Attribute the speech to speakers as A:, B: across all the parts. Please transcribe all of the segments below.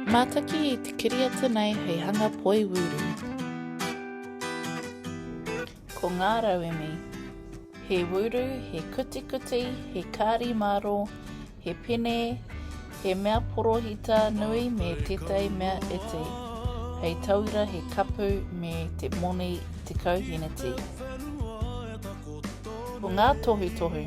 A: Mātaki i te kiriata nei hei hanga poi wūru. Ko ngā rauemi. He wūru, he kutikuti, he kāri māro, he pene, he mea porohita nui me tētai mea iti. Hei tauira he kapu me te moni te kauhiniti. Ko ngā tohutohu.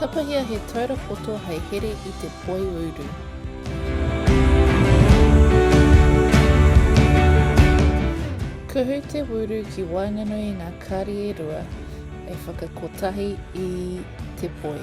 A: Tapahia he taura poto hei here i te poi uru. Kuhu te wuru ki waenganui i ngā kāri e rua e whakakotahi i te poi.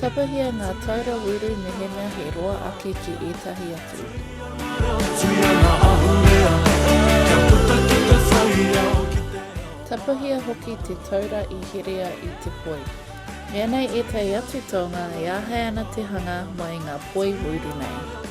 A: Tapahia ngā taura wīru mehemea he roa ake ki ētahi atu. Tapahia hoki te taura i herea i te poi. Mea nei ētahi atu taonga e āhei ana te hanga mai ngā poi wīru nei.